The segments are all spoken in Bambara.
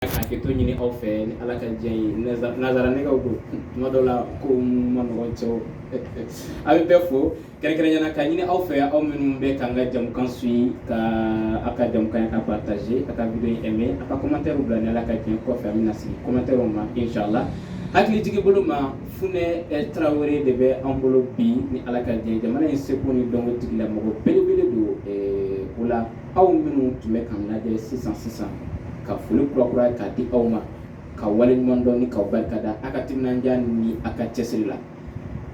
ka hakɛto ɲini aw fɛ ni ala ka diɲɛ ye nansara nɛgɛw don tuma dɔw la ko man nɔgɔn cɛw an bɛ bɛɛ fo kɛrɛnkɛrɛnnenya la k'a ɲini aw fɛ aw minnu bɛ k'an ka jɛmukan su in ka aw ka jɛmukan ka partaze a ka video in ɛmɛ a ka kɔmantɛriw bila ni ala ka diɲɛ kɔfɛ an bɛna segin kɔmantɛriw ma inshallah hakilijigin bolo ma funɛ tarawele de bɛ an bolo bi ni ala ka diɲɛ jamana in seko ni dɔnko tigilamɔgɔ belebele don o la aw minnu tun bɛ k'an lajɛ sisan sisan ka foli kurakura k'a di aw ma k'aw waleɲuman dɔn ni k'aw barika da aw ka timinandiya ni aw ka cɛsiri la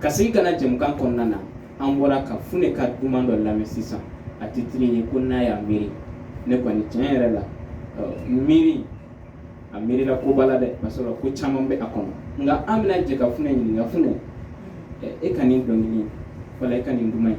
ka segin ka na jɛmukan kɔnɔna na an bɔra ka funɛ ka duman dɔ lamɛn sisan a titiri ye ko n'a y'a miiri ne kɔni tiɲɛ yɛrɛ la miiri a miirila ko b'a la dɛ ka sɔrɔ ko caman bɛ a kɔnɔ nka an bɛna jɛ ka funɛ ɲininka funɛ e ka nin dɔnkili wala e ka nin duman ye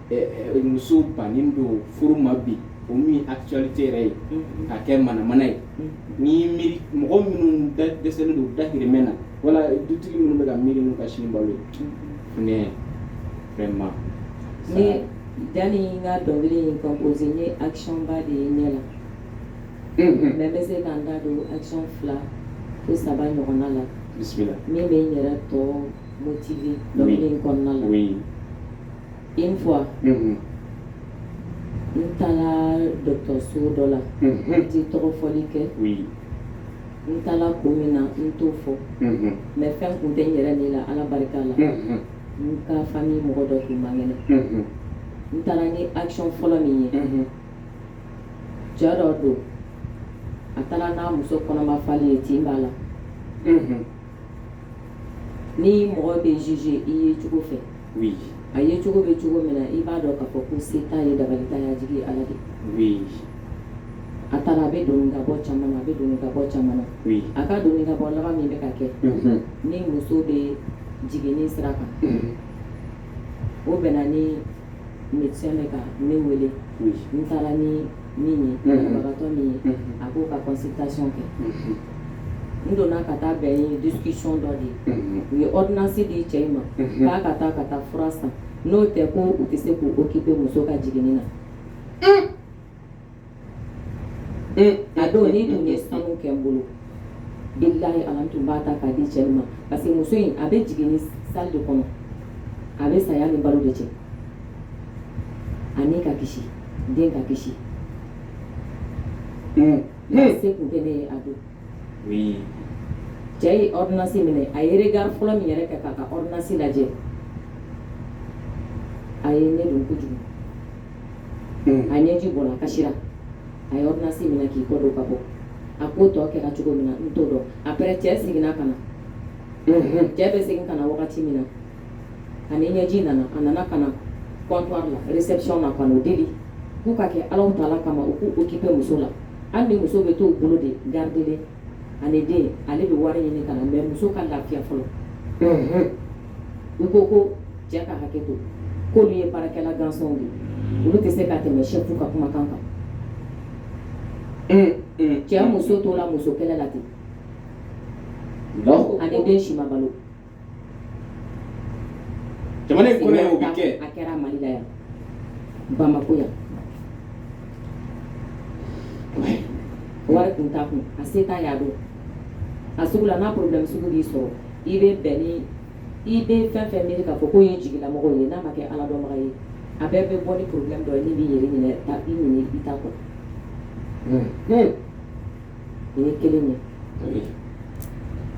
muso bannen don furu ma bi o min actualité yɛrɛ ye ka kɛ manamana ye ni miiri mɔgɔ minnu dɛsɛlen don dahirimɛ na wala dutigi minnu bɛ ka miiri n'u ka sini balo ye funɛ vraiment sani n ka dɔnkili in compose n ye action ba de ye n ɲɛ la mais n bɛ se ka n da don action fila fo saba ɲɔgɔnna la bisimila min bɛ n yɛrɛ to motiver dɔnkili in kɔnɔna la Une fois, unhun, n taara dɔgɔtɔrɔso dɔ la, unhun, n tɛ tɔgɔ fɔli kɛ, oui, n taara kun min na n t'o fɔ, unhun, mais fɛn tun tɛ n yɛrɛ ni la Ala barika la, unhun, n ka famille mɔgɔ dɔ tun man kɛnɛ, unhun, n taara n ye action fɔlɔ min ye, unhun, cɛ dɔ don a taara n'a muso kɔnɔma falen ye tin b'a la, unhun, ni mɔgɔ bɛ juger i yecogo fɛ a yecogo bɛ cogo min na i b'a dɔn k'a fɔ ko se t'a ye dabali t'a ye a jigi ye Ala de ye a taara a bɛ don ni ka bɔ caman na a bɛ don ni ka bɔ caman na a ka don ni ka bɔ laban min bɛ ka kɛ ni muso bɛ jiginni sira kan o bɛnna ni médecin bɛ ka ne wele n taara ni min ye banabagatɔ min ye a b'o ka consultation kɛ n donna ka taa bɛn ni discussion dɔ de ye u ye ordonnance di cɛ in ma k'a ka taa ka taa fura san n'o tɛ ko u tɛ se k'u occuper muso ka jiginni na a don n'i tun ye sanu kɛ n bolo bilahi ala n tun b'a ta k'a di cɛ in ma parce que muso in a bɛ jiginni salle de kɔnɔ a bɛ saya ni balo de cɛ a ni ka kisi den ka kisi se kun tɛ ne ye a don cɛ ye ordonnance minɛ a ye regard fɔlɔ min yɛrɛ kɛ k'a ka ordonnance lajɛ a ye ne dun kojugu a ɲɛji bɔra a kasira a ye ordonnance minɛ k'i kɔ don ka bɔ a ko tɔ kɛra cogo min na n t'o dɔn après cɛ seginna ka na cɛ bɛ segin ka na wagati min na a ni ɲɛji nana a nana ka na kɔnɔn la réception na ka deli k'u ka kɛ ala ta kama u k'u occuper muso la hali ni muso bɛ to u bolo de garde a ni den ale bɛ wari ɲini ka na mais muso ka lafiya fɔlɔ u ko ko cɛ ka hakɛ to k'olu ye baarakɛla gansanw de olu tɛ se ka tɛmɛ si ka kumakan kan eh, eh, cɛ eh. muso tola musokɛlɛ la ten a ni den si ma balo jamana kɔnɔ ye o bɛ kɛ a kɛra mali la yan bamako yan wari kun t'a kun a se t'a ye a don a sugu la n'a problème sugu b'i sɔrɔ i bɛ bɛn ni i bɛ fɛn fɛn miiri k'a fɔ k'o y'i jigilamɔgɔ ye n'a ma kɛ ala dɔnbaga ye a bɛɛ bɛ bɔ ni problème dɔ ye min b'i yɛrɛ ɲinɛ i ɲinɛ i ta kɔ O ye kelen ye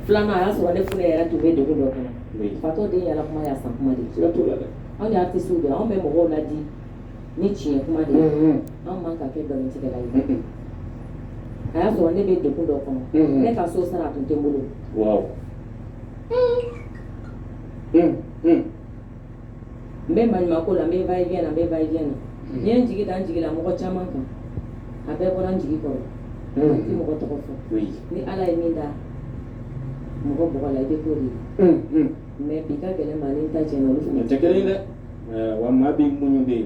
filanan a y'a sɔrɔ ne fana yɛrɛ tun bɛ degun dɔ kɔnɔ fatɔ den yaala kuma y'a san kuma de anw y'a tɛ so dɔn anw bɛ mɔgɔw ladi ni tiɲɛ kuma de anw man ka kɛ nkalontigɛla ye a y'a sɔrɔ ne bɛ degun dɔ kɔnɔ ne ka sosara a tun tɛ n bolo n bɛ maɲumanko la n bɛ va et vient na n bɛ va et vient na n ye n jigi da n jigila mɔgɔ caman kan a bɛɛ bɔra n jigi kɔrɔ n tɛ mɔgɔ tɔgɔ fɔ ni ala ye min da mɔgɔ bɔgɔ la i bɛ k'o de ye mais bi ka gɛlɛn maa ni n ta cɛ la olu fana tɛ kelen ye dɛ wa maa b'i muɲu de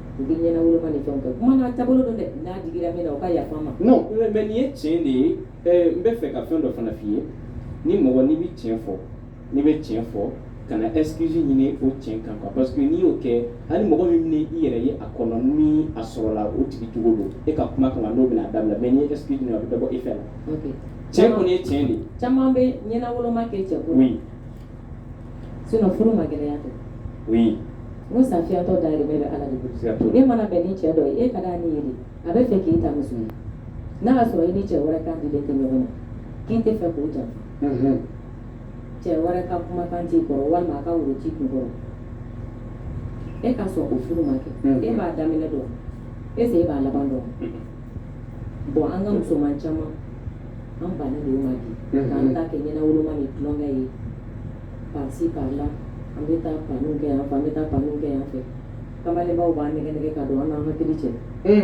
U bɛ ɲɛna wolo ni fɛn kɛ kuma n'a taabolo don dɛ n'a digira min na u ka yafa n ma mais nin ye tiɲɛ de ye n b'a fɛ ka fɛn dɔ fana f'i ye ni mɔgɔ n'i bɛ tiɲɛ fɔ n'i bɛ tiɲɛ fɔ kana excuse ɲini o tiɲɛ kan kan parce que n'i y'o kɛ hali mɔgɔ min min y'i yɛrɛ ye a kɔnɔ ni a sɔrɔla o tigi cogo don e ka kuma kama o bɛna da i la mais n'i ye excuse ɲini a bɛ dɔ bɔ e fɛ la tiɲɛ kɔni ye tiɲɛ de caman bɛ ɲɛnawoloma kɛ cɛ sinon furu ma gɛlɛya tɛ oui n ko sa fiyentɔ dahirimɛ bɛ ala de bolo siga t'o la e mana bɛn ni cɛ dɔ ye e ka d'a ni ye de a b'a fɛ k'i ta muso ye n'a y'a sɔrɔ i ni cɛ wɛrɛ kan dilen tɛ ɲɔgɔn ma k'i tɛ fɛ k'o janfa Mhm. cɛ wɛrɛ ka kumakan t'i kɔrɔ walima a ka woro t'i kun kɔrɔ e ka sɔn o furu ma kɛ Mm. e b'a daminɛ dɔn est ce que e b'a laban dɔn Bon an ka musoman caman an ban de ma bi an t'a kɛ ɲɛna woloma ni tulonkɛ ye pa pa la an bɛ taa pan kɛ an an bɛ taa pan kɛ an fɛ kabaw b'an nɛgɛn nɛgɛn ka don an an ka ki cɛ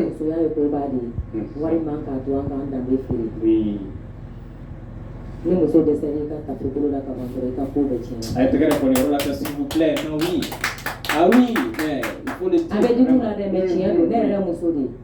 musoya ye koba de ye wari man k'a to an k'an danbe feere ni muso bɛ se ka ka bolo la ka sɔrɔ i ka ko bɛ cɛ a tɛgɛ la filɛ la dɛ tiɲɛ don ne yɛrɛ muso de ye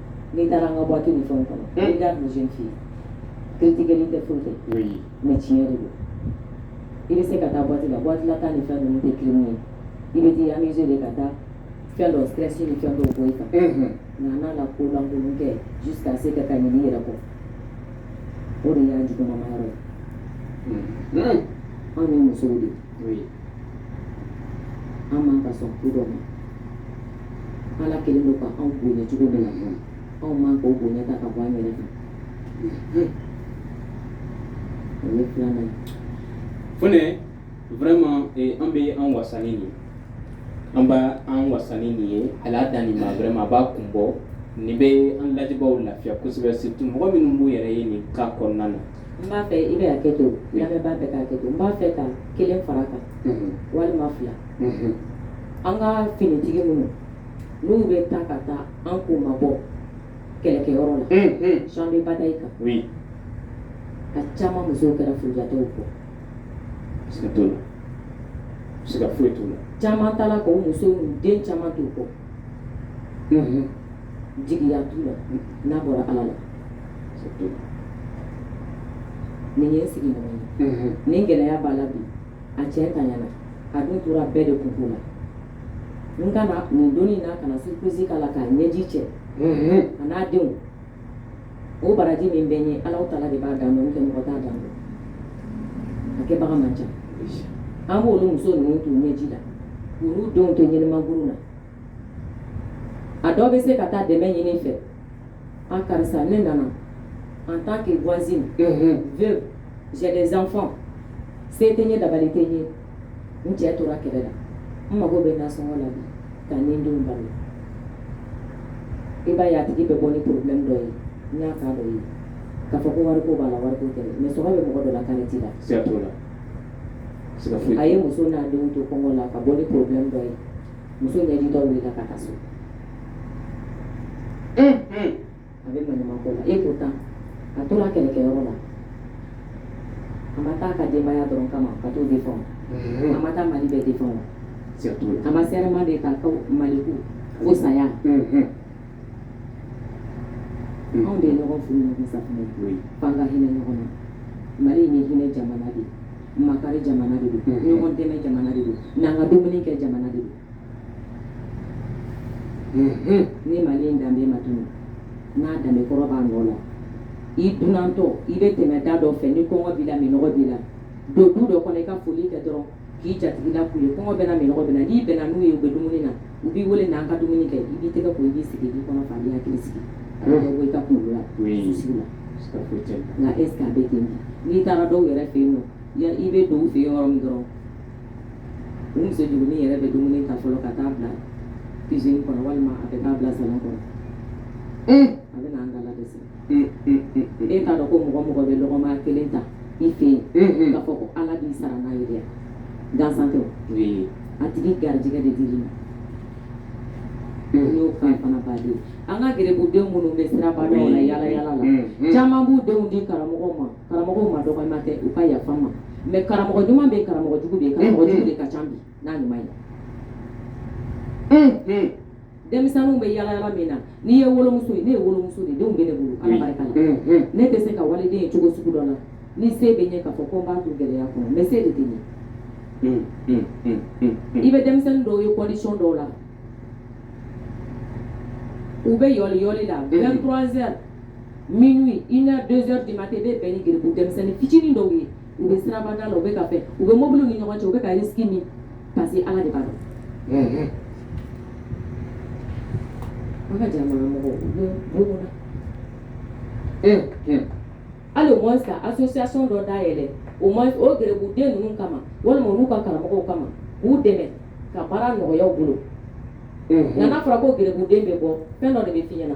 n'i taara an ka bɔti ni fɛn kɔnɔ n'i da kun sen fi tigɛ tɛ foyi tɛ mɛ tiɲɛ de don i bɛ se ka taa bɔti la bɔti la tan ni fɛn ninnu tɛ kelen ye i bɛ di an de ka taa fɛn dɔ sirasi ni fɛn dɔw bɔ i kan nka n'a la ko lankolon kɛ ji ka se ka ka ɲini yɛrɛ kɔ o de y'a jugumanba yɔrɔ ye anw ye musow de an man ka sɔn ko dɔ ma ala kɛlen don ka anw bonya cogo dɔ la anw man k'o bonya ta ka bɔ an yɛrɛ kan o ye filanan ye funɛ vraiment eh, an bɛ an wasa ni nin ye an b'an wasa ni nin ye ala dan nin ma vraiment a b'a kun bɔ nin bɛ an lajɛbaaw lafiya kosɛbɛ surtout mɔgɔ minnu b'u yɛrɛ ye nin cas kɔnɔna na n b'a fɛ i bɛ hakɛ to lamɛnbaa bɛɛ ka hakɛ to n b'a fɛ ka kelen fara a kan walima fila an ka finitigi minnu n'u bɛ taa ka taa an kunmabɔ kɛlɛkɛyɔrɔ la champ de bataille kan a caman musow kɛra furujatɔw kɔ siga t'o la siga foyi t'o la caman taara k'u muso ni den caman t'u kɔ jigiya t'u la n'a bɔra ala la n'i y'i sigiɲɔgɔn ye mhm. nin gɛlɛya b'a la bi a cɛntanyana a dun tora bɛɛ de kunko la n ka na nin don in na ka na surprise k'a la k'a ɲɛji cɛ mhm. a n'a denw o baraji min bɛ n ye alahu taala de b'a dan dɔn nka mɔgɔ t'a dan dɔn a kɛbaga man ca an b'olu muso ninnu t'u ɲɛji la k'olu denw to ɲɛnɛmaguru la a dɔ bɛ se ka taa dɛmɛ ɲini i fɛ a karisa ne nana en tant que voisine veuve j'ai des enfants se tɛ n ye dabali tɛ n ye n cɛ tora kɛlɛ la n mago bɛ nasɔngɔ la bi ka n ni denw balo i b'a ye a tigi bɛ bɔ ni problème dɔ ye n y'a k'a dɔ ye k'a fɔ ko wariko b'a la wariko tɛ mais sɔnko bɛ mɔgɔ dɔ la kaari t'i la siga t'o la siga foyi a ye muso n'a denw to kɔngɔ la ka bɔ ni problème dɔ ye muso ɲɛ di dɔw wulila ka taa so a bɛ manɲuman ko la et pourtant a tora kɛlɛkɛyɔrɔ la a ma taa a ka denbaya dɔrɔn kama ka t'o de fɔ a ma taa mali bɛɛ de fɔ a ma serment de kɛ ko mali ko fo saya anw de ye ɲɔgɔn furu ɲɔgɔn safunɛ f'an ka hinɛ ɲɔgɔn na mali in ye hinɛ jamana de ye makari jamana de don ɲɔgɔn dɛmɛ jamana de don n'an ka dumuni kɛ jamana de don ni mali in danbe ma tunun n'a danbe kɔrɔ b'a nɔ la i dunantɔ i bɛ tɛmɛ da dɔ fɛ ni kɔngɔ b'i la minɔgɔ b'i la don du dɔ kɔnɔ i ka foli kɛ dɔrɔn k'i jatigila k'u ye kɔngɔ bɛ n na minɔgɔ bɛ n na n'i bɛnna n'u ye u bɛ dumuni na u b'i weele n'an ka dumuni kɛ i b'i tɛgɛ ko i b'i sigi i kɔnɔ fa bɛ k'i sigi bɔ i ka kun la sigi la nka e a bɛ ten n'i taara dɔw yɛrɛ fɛ yen nɔ i bɛ don u fɛ yɔrɔ min dɔrɔn u muso jugunin yɛrɛ bɛ dumuni ta fɔlɔ ka taa bila cuisine kɔnɔ walima a bɛ taa bila salon kɔnɔ a bɛ an ka la e t'a dɔn ko mɔgɔ o mɔgɔ bɛ lɔgɔma kelen ta i fɛ yen k'a fɔ ko ala b'i sara n'a ye dɛ gansan tɛ a tigi garijɛgɛ de dil'i ma n'o kan fana baden an ka geribudenw minnu bɛ siraba la yala yala la caman b'u denw di karamɔgɔ ma karamɔgɔ madɔgɔya tɛ u ka yafa n ma mais karamɔgɔ ɲuman bɛ yen karamɔgɔ jugu bɛ yen karamɔgɔ jugu de ka ca bi n'a ɲuman ye denmisɛnninw bɛ yala yala min na n'i ye wolomuso ye ne ye wolomuso de denw bɛ ne bolo ala barika la mm, mm. ne tɛ se ka waliden ye cogo sugu dɔ la ni se bɛ n ye k'a fɔ ko n b'a to gɛlɛya kɔnɔ mais se de tɛ n ye mm, i bɛ denmisɛnnin dɔw ye condition dɔw la u bɛ yoli yoli la 23 heures minuit une heure deux heures du matin i bɛ bɛn ni geribu denmisɛnnin fitinin dɔw ye u bɛ siraba da la u bɛ ka fɛn u bɛ mobili ni ɲɔgɔn cɛ u bɛ ka risque min parce que ala de b'a dɔn an ka jan mɔgɔ hali o sa association dɔ dayɛlɛ o ma o geribu den ninnu kama walima olu ka karamɔgɔ kama k'u dɛmɛ ka baara nɔgɔya u bolo nka n'a fɔra ko geribu den bɛ bɔ fɛn dɔ de bɛ fiɲɛ na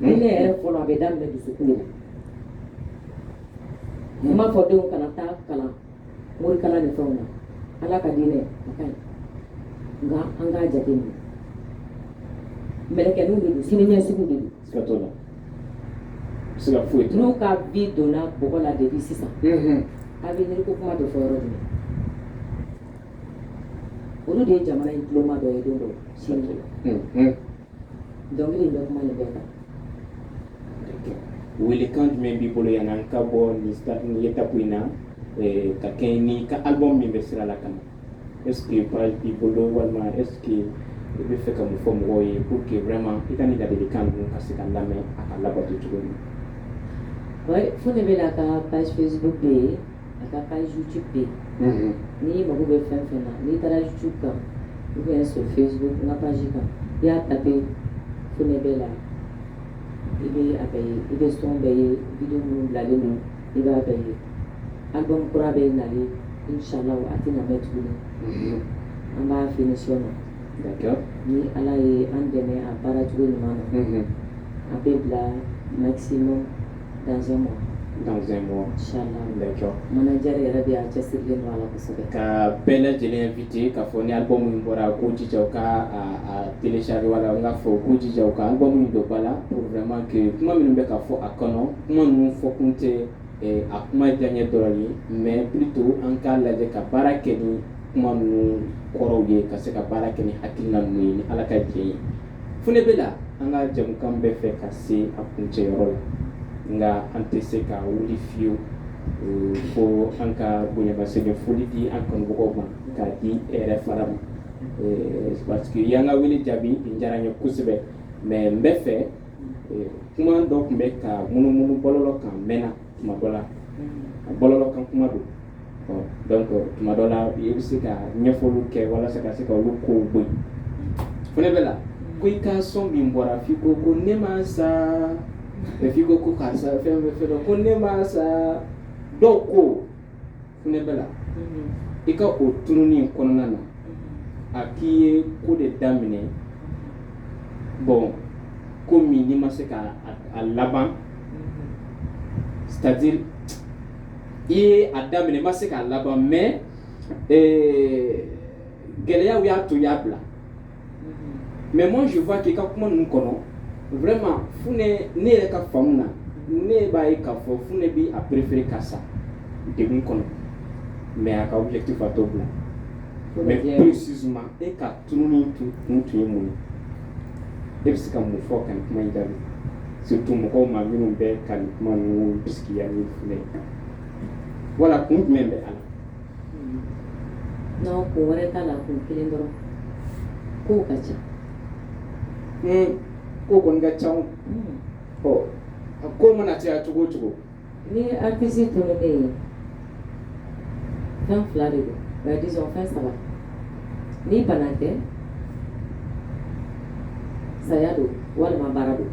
Hinɛ yɛrɛ fɔlɔ a bɛ daminɛ dusukun de la. N m'a fɔ denw kana taa kalan morikalan ni fɛnw na Ala ka diinɛ a ka ɲi nka an k'a jateminɛ mɛlɛkɛninw de don siniɲɛsigiw de don. Siga t'o la. Siga foyi t'o la. N'u ka vie donna bɔgɔ la depuis sisan. Unhun. Avenir ko kuma bɛ fɔ yɔrɔ jumɛn? Olu de ye jamana in tuloma dɔ ye don dɔ sini. Unhun. Dɔnkili in bɛ kuma nin bɛɛ kan. Welekan jumɛn b'i bolo yan an ka bɔ nin stade nin étape in na ɛɛ ka kɛɲɛ n'i ka album min bɛ sira la ka na est ce que page b'i bolo walima est ce que i bɛ fɛ ka mun fɔ mɔgɔw ye pour que vraiment i ka nin ladilikan ninnu ka se ka lamɛn a ka labato cogo min na. Oui Funɛ Bɛla ka page Facebook bɛ yen A ka page youtube bɛ yen n'i mago bɛ fɛn fɛn na n'i taara youtube kan i bɛ se facebook page kan i y'a taper funɛ bɛla i bɛ a bɛɛ ye i bɛ son bɛɛ ye vidéo minnu bilalen don i b'a bɛɛ ye album kura bɛ na inshallah a tɛ na mɛn tuguni an b'a finition na ni ala ye an dɛmɛ a baara cogo ɲuman na a bɛ bila maximum dans deux mois manager yɛrɛ b'i cɛ siri kosɛbɛ ka bɛɛ lajɛlen inviter k'a fɔ ni album in bɔra u k'u jija k'a télécharger wala n k'a fɔ u k'u jija ka album in dɔ ba la pour vraiment que kuma minnu bɛ ka fɔ a kɔnɔ kuma ninnu fɔ kun tɛ a kuma diyaɲɛ dɔrɔn ye mais plutôt an k'a lajɛ ka baara kɛ ni kuma ninnu kɔrɔw ye ka se ka baara kɛ ni hakilina ninnu ye ni ala ka diɲɛ ye Funɛ bɛla an ka jɛmukan bɛ fɛ ka se a kuncɛ yɔrɔ la nka an tɛ se ka wuli fiyewu fo an ka bonyamasegin foli di an kanumɔgɔw ma k'a di i yɛrɛ fana ma parce que i ye an ka wele jaabi a diyara n ye kosɛbɛ mais n b'a fɛ kuma dɔ tun bɛ ka munumunu bɔlɔlɔ kan mɛnna tuma dɔ la a bɔlɔlɔ kan kuma don donc tuma dɔ la i bɛ se ka ɲɛfɔliw kɛ walasa ka se ka olu kow bɔ yen funɛ bɛla ko i ka son min bɔra f'i ko ko ne ma sa f'i ko ko karisa fɛn bɛ fɛn dɔ ko ne ma sa dɔw ko funɛ bɛla i ka o tununi kɔnɔna na a k'i ye ko de daminɛ bon ko min n'i ma se ka a laban c'est-à-dire i ye a daminɛ ma se k'a laban mais gɛlɛyaw y'a to i y'a bila mais moi je vois que i ka kuma ninnu kɔnɔ vraiment funɛ ne yɛrɛ ka faamu na ne b'a ye k'a fɔ funɛ b'a préférer ka sa degun kɔnɔ mais a ka objectif a t'o bila mais précisément e ka tununi tun kun tun ye mun ye e bɛ se ka mun fɔ ka nin kuma in jaabi surtout mɔgɔw ma minnu bɛ ka nin kuma ninnu bisigiya ni funɛ ye wala kun jumɛn bɛ a la N'aw kun wɛrɛ t'a la kun kelen dɔrɔn ko ka ca ko kɔni ka ca ɔ a ko mana caya cogo cogo ni artiste tununnen ye fɛn fila de don disons fɛn saba ni bana tɛ saya don walima baara don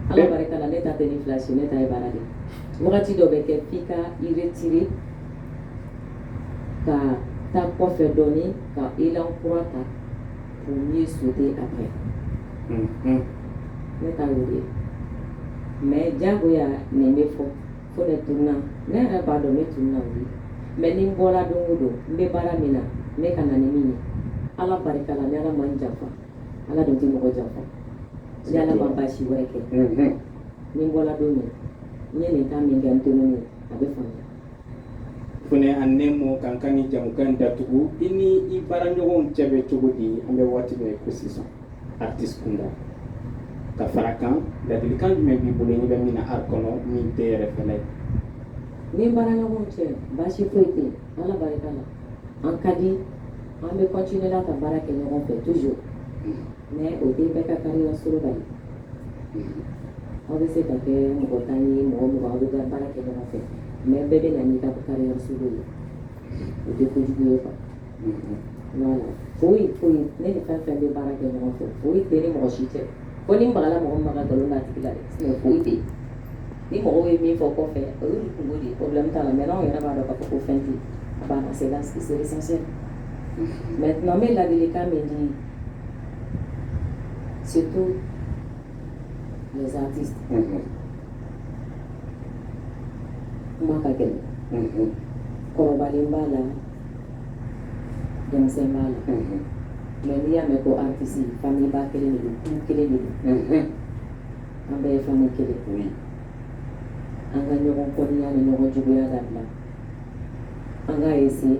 ala barika la ne ta tɛ nin fila si ne ta ye baara de Wagati dɔ bɛ kɛ k'i ka i retirer ka taa kɔfɛ dɔɔnin ka élan kura ta u ye su a fɛ ne ka ye mais jagoya nin bɛ fɔ fo ne tununna ne yɛrɛ b'a dɔn ne tununna ye mais ni n bɔra don o don n bɛ baara min na ne ka na ni min ye ala barika la ne ala ma n janfa ala dun tɛ mɔgɔ janfa ni ala ma baasi wɛrɛ kɛ ni n bɔra don min n ye nin kan min kɛ n tununnen ye a bɛ faamuya fɛnɛ a nɛ mɔ k'an ka nin jɛmukan datugu i ni i baaraɲɔgɔnw cɛ bɛ cogo di an bɛ waati min ko sisan artiste kunda ka fara a kan ladilikan jumɛn b'i bolo n'i bɛ min na art kɔnɔ min tɛ yɛrɛ fɛnɛ ne ni baaraɲɔgɔnw cɛ baasi foyi tɛ yen ala barika la an ka di an bɛ continuer la ka baara kɛ ɲɔgɔn fɛ toujours Mais o den bɛɛ ka kan ka sɔrɔ bali aw bɛ se ka kɛ mɔgɔ tan ni mɔgɔ mugan aw bɛ ka baara kɛ ɲɔgɔn fɛ mais bɛɛ bɛ na n'i ka caprices ye o tɛ kojugu ye kan foyi foyi ne ni fɛn fɛn bɛ baara kɛ ɲɔgɔn fɛ foyi tɛ ni mɔgɔ si cɛ ko ni mɔgɔla mɔgɔ ma ka nkalon tigɛ la dɛ foyi tɛ ni mɔgɔ ye min fɔ kɔfɛ olu kunko de kɔlɛ ta la mais anw yɛrɛ b'a dɔn ka fɔ ko fɛn tɛ a b'a ka se ka sigi seli mais tuma bɛ ladilikan min di surtout les artistes kuma ka gɛlɛn kɔrɔbalen b'a la denmisɛn b'a la mais n'i y'a mɛn ko artiste famille ba kelen de don du kelen de don an bɛɛ ye famille kelen an ka ɲɔgɔn kɔniya ni ɲɔgɔn juguya dabila an k'a essayer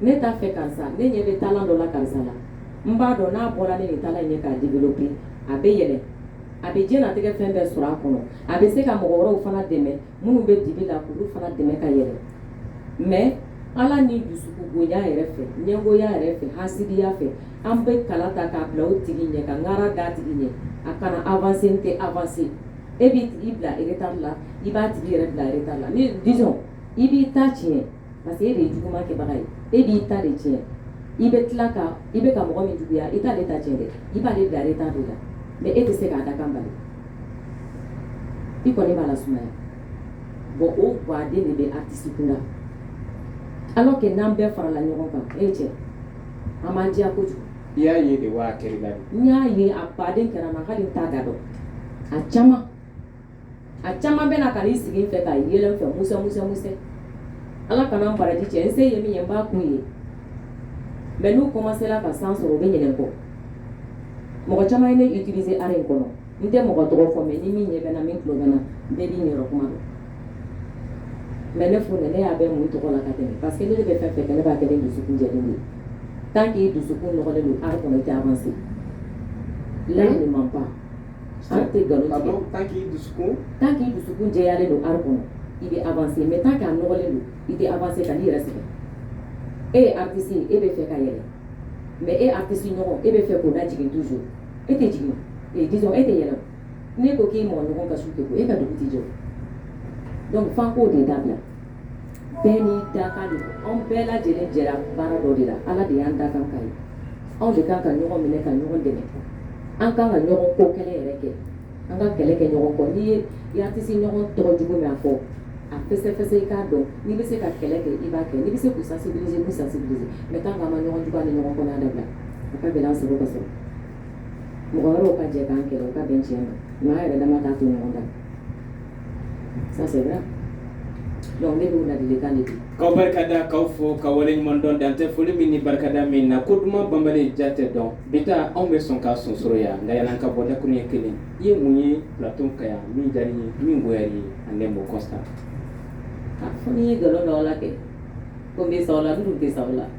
ne t'a fɛ karisa ne ɲɛ bɛ talent dɔ la karisa la n b'a dɔn n'a bɔra ne nin talent ɲɛ k'a développer a bɛ yɛlɛ a bɛ diɲɛnatigɛ fɛn bɛɛ sɔrɔ a kɔnɔ a bɛ se ka mɔgɔ wɛrɛw fana dɛmɛ minnu bɛ dibi la k'olu fana dɛmɛ ka yɛlɛ mais ala ni dusukungoya yɛrɛ fɛ ɲɛngoya yɛrɛ fɛ hasidiya fɛ an bɛ kala ta k'a bila o tigi ɲɛ ka ŋara d'a tigi ɲɛ a kana avancer n tɛ avancer e b'i bila retard la i b'a tigi yɛrɛ bila retard la ni disons i b'i ta tiɲɛ parce que e de ye juguman kɛbaga ye e b'i ta de tiɲɛ i bɛ tila ka i bɛ ka mɔgɔ min juguya i t'ale ta tiɲɛ dɛ i b'ale bila ale ta de la mais e tɛ se k'a dakan bali i kɔni b'a lasumaya bon o baden de bɛ artiste kunda alors que n'an bɛɛ farala ɲɔgɔn kan e cɛ an b'an diya kojugu i y'a ye de wa a kɛr'i la de n y'a ye a baden kɛra n na hali n t'a da dɔn a caman a caman bɛ na ka n'i sigi n fɛ ka yɛlɛ n fɛ musa musa musa ala kana an baraji cɛ n se ye min ye n b'a k'u ye mais n'u kɔmansera ka san sɔrɔ u bɛ ɲinɛ n kɔ mɔgɔ caman ye ne utiliser art in kɔnɔ n tɛ mɔgɔ tɔgɔ fɔ mais ni min ɲɛ bɛ n na min tulo bɛ n na bɛɛ b'i yɛrɛ kuma dɔn mais ne fo ne y'a bɛ mun tɔgɔ la ka tɛmɛ parce que ne de bɛ fɛn fɛ ne b'a kɛ ni dusukun jɛ ye tant qu'i dusukun nɔgɔlen don art kɔnɔ i t'avancer layi man ban Tant qu'i dusu tant qu'i dusukun jɛyalen don art kɔnɔ i bɛ avancer mais tant qu'a nɔgɔlen don i tɛ avancer kan'i yɛrɛ sɛgɛn e ye artiste ye e b'a fɛ ka yɛlɛn mais e artiste ɲɔgɔn e b'a fɛ k'o lajigin toujours e tɛ jigin e di e tɛ yɛlɛn n'e ko k'i mɔgɔ ɲɔgɔn ka su e ka dugu tɛ jɔ donc f'an k'o de dabila bɛɛ n'i dakan don anw bɛɛ lajɛlen jɛra baara dɔ de la ala de y'an dakan ka ye anw de kan ka ɲɔgɔn minɛ ka ɲɔgɔn dɛmɛ an kan ka ɲɔgɔn ko kɛlɛ yɛrɛ kɛ an ka kɛlɛ kɛ ɲɔgɔn kɔ n'i y'i artiste ɲɔgɔn tɔgɔ jugu mɛn a fɔ a fɛsɛfɛsɛ i k'a dɔn n'i bɛ se ka kɛlɛ kɛ i b'a kɛ n'i bɛ se k'u sensibiliser k'u sensibiliser mais tant qu'an ma ɲɔgɔn juguya ni ɲɔgɔn kɔniya dabila a ka gɛlɛn an sago ka sɔrɔ mɔgɔ wɛrɛw ka jɛ k'an kɛlɛ u ka bɛn tiɲɛ ma nka an yɛrɛ dama t'a to ɲɔgɔn ta Aw barika da k'aw fo k'aw waleɲumandɔn dan tɛ foli min ni barikada min na ko duman banbali jate don bi ta anw bɛ sɔn ka sonsoro yan nka yann'an ka bɔ dakuruɲɛ kelen i ye mun ye plateau kan yan min diyara i ye min goyara i ye ani mɔ kɔsa ye nkalon la kɛ ko bɛ sa la tɛ sa la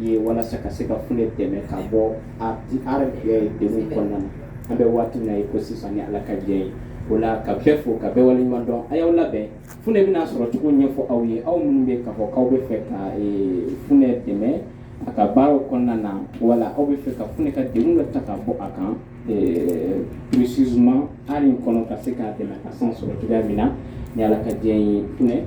ye walasa ka se ka funɛ dɛmɛ ka bɔ denw kɔnɔna na an bɛ waati min ye ko sisan ni ala ka diɲɛ ye o la ka bɛɛ fo ka bɛɛ waleɲumandɔn a y'aw labɛn funɛ bɛna a sɔrɔcogo ɲɛfɔ aw ye aw minnu bɛ ka fɔ aw bɛ fɛ ka funɛ dɛmɛ a ka baaraw kɔnɔna na wala aw bɛ fɛ ka funɛ ka doni dɔ ta ka bɔ a kan psisuma hali kɔnɔ ka se k'a dɛmɛ ka san sɔrɔ cogoya min na ni ala ka diɲɛ ye f